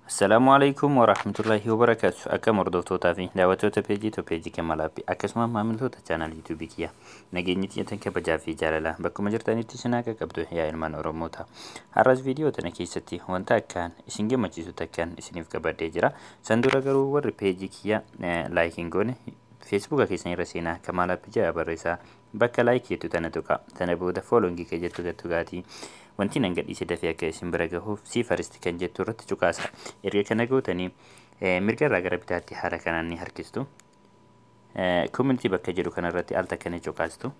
Assalaamu alaikum wa rahmatullahi wa barakaatu. Akkam hordoftootaa fi daawwattoota peejii to peejii Kemalaappi akkasuma maamiltoota chaanal yuutuubii kiyya nageenyi xiyyeetan kabajaa fi jaalala bakkuma jirtanitti isin haa qaqqabdu yaa ilmaan Oromoota. Har'as viidiyoo tana keessatti wanta akkaan isin gammachiisu takkaan isiniif qabadhee jira. San dura garuu warri peejii kiyya laayik hin goone feesbuuka keessan irra seenaa Kemalaappi ja'a barreessaa Bakka like jettu tana tuqaa. Tana booda following ka jettu irra tuqaatii wanti nan gadhiise dafee akka isin bira gahuuf see first kan jettu irratti cuqaasa. Erga kana gootanii eh, mirga irraa gara bitaatti haala kanaan ni harkistu. Eh, community bakka jedhu kana irratti al takka ni cuqaastu.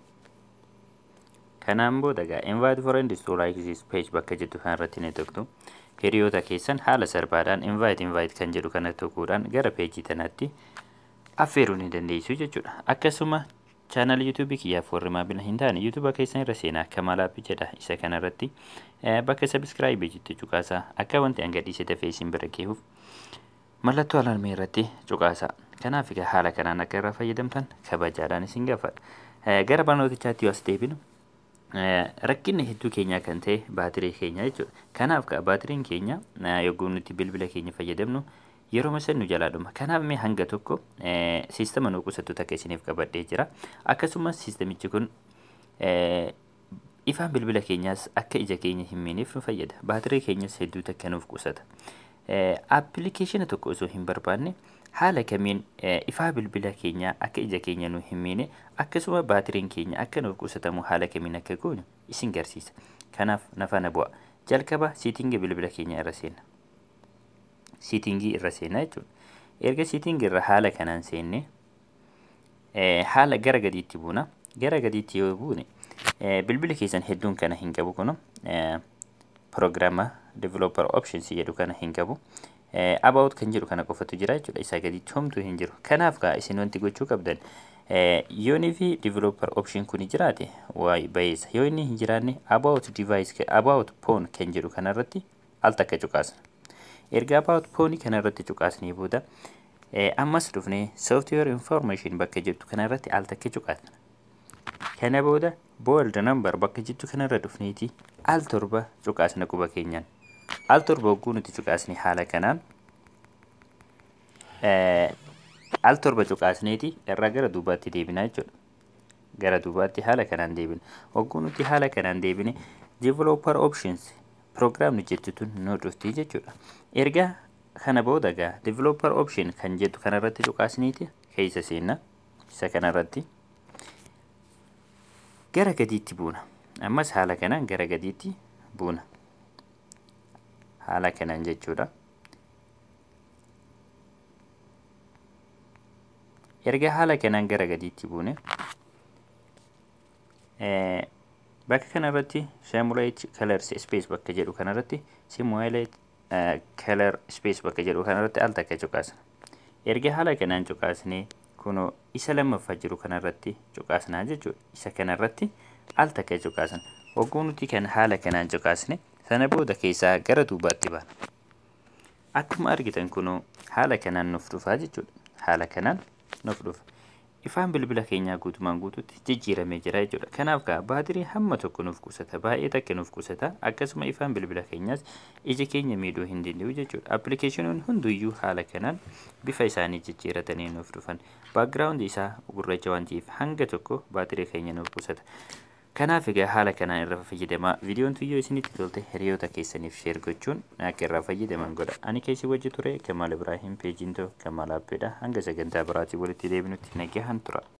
Kanaan booda egaa invite friends to like this page bakka jettu kana irratti ni tuqtu. Hiriyoota keessan haala salphaadhaan invite invite kan jedhu kana tuquudhaan gara peejii tanaatti affeeruu ni dandeessu jechuudha. Akkasuma Channel YouTube kiyyaaf warri maamila hin taane YouTube keessan irra seenaa Kamal App jedha isa kana irratti eh, bakka subscribe jettu cuqaasaa akka wanti an gadhiise dafee isin bira gahuuf mallattoo alarmii irratti cuqaasaa kanaaf egaa haala kanaan akka irraa fayyadamtan kabajaadhaan isin gaafadha Eh, gara barnootichaatti yoo as deebinu Eh, rakkinni hedduu keenyaa kan ta'e baatirii keenya jechuudha. Kanaaf ka baatiriin keenya eh, yogguu nuti bilbila keenya fayyadamnu Yeroma san nu jalaa dhuma. Kanaaf mee hanga tokko siistama nu qusattu takka isiniif qabadhee jira. Akkasumas siistamichi kun ifaan bilbila keenyaas akka ija keenya hin miineef nu fayyada. Baatirii keenyas hedduu takka nuuf qusata. Appilikeeshina tokko osoo hin barbaanne haala kamiin ifaa bilbila keenyaa akka ija keenya nu hin miine akkasuma baatiriin keenya akka nuuf qusatamu haala kamiin akka goonu isin garsiisa. Kanaaf na faana bu'a. Jalqaba siitingi bilbila keenya irra seenna. siitingii irra seenna jechuudha. Erga siitingii irra haala kanaan seenne haala gara gadiitti buuna. Gara gadiitti yoo buune bilbili keessan hedduun kana hin qabu kun prograama developer options jedhu kana hin qabu. About kan jedhu kana qofatu jira jechuudha. Isaa gadiitti homtuu hin jiru. Kanaaf gaa isin wanti gochuu qabdan yoonii fi developer option kun jiraate bayeessa. Yoo inni hin jiraanne about device about phone kan jedhu kanarratti al takka cuqaasna. Erga about phone kana irratti cuqaasnee booda eh, ammas dhufnee software information bakka jettu kana irratti al takka cuqaasna. Kana booda bold number bakka jettu kana irra dhufneeti al torba cuqaasna quba keenyaan. Al torba hogguu nuti cuqaasne haala kanaan eh, al torba cuqaasneeti irraa gara duubaatti deebinaa jechuudha. gara duubaatti haala kanaan deebina. Hogguu nuti haala kanaan deebine developer options program jettu tun nu dhufti jechuudha. Erga kana booda gaa developer option kan jettu kanarratti cuqaasniiti keessa seenna. Isa kanarratti gara gadiitti buuna. Ammas haala kanaan gara gadiitti buuna. Haala kanaan jechuudha. erga haala kanaan gara gadiitti buune bakka kanarratti simulate colors space bakka jedhu kanarratti simulate color space bakka jedhu kanarratti al takka cuqaasna erga haala kanaan cuqaasnee kunoo isa lammaffaa jiru kanarratti cuqaasnaa jechuudha isa kanarratti al takka cuqaasna hogguu nuti kan haala kanaan cuqaasne sana booda keessaa gara duubaatti baana Akkuma argitan kunoo haala kanaan nuuf dhufaa jechuudha. Haala kanaan nuuf dhufa. Ifaan bilbila keenyaa guutumaan guututti jijjiiramee jira jechuudha. Kanaaf kaa baatirii hamma tokko nuuf qusata. Baay'ee takka nuuf qusata. Akkasuma ifaan bilbila keenyaas ija keenya miidhuu hin danda'u jechuudha. Appilikeeshinoonni hunduyyuu haala kanaan bifa isaanii jijjiiratanii nuuf dhufan. Baakgiraawundi isaa gurraacha waan ta'eef hanga tokko baatirii keenya nuuf qusata. Kanaaf egaa haala kanaan irra fayyadamaa. Viidiyoon tun yoo isinitti tolte hiriyoota keessaniif share gochuun akka irraa fayyadaman godha. Ani kan isin wajji ture Kamaal Ibraahim, peejiin too Kamaal App dha. Hanga sagantaa biraatiin walitti deebinutti nagahaan tura.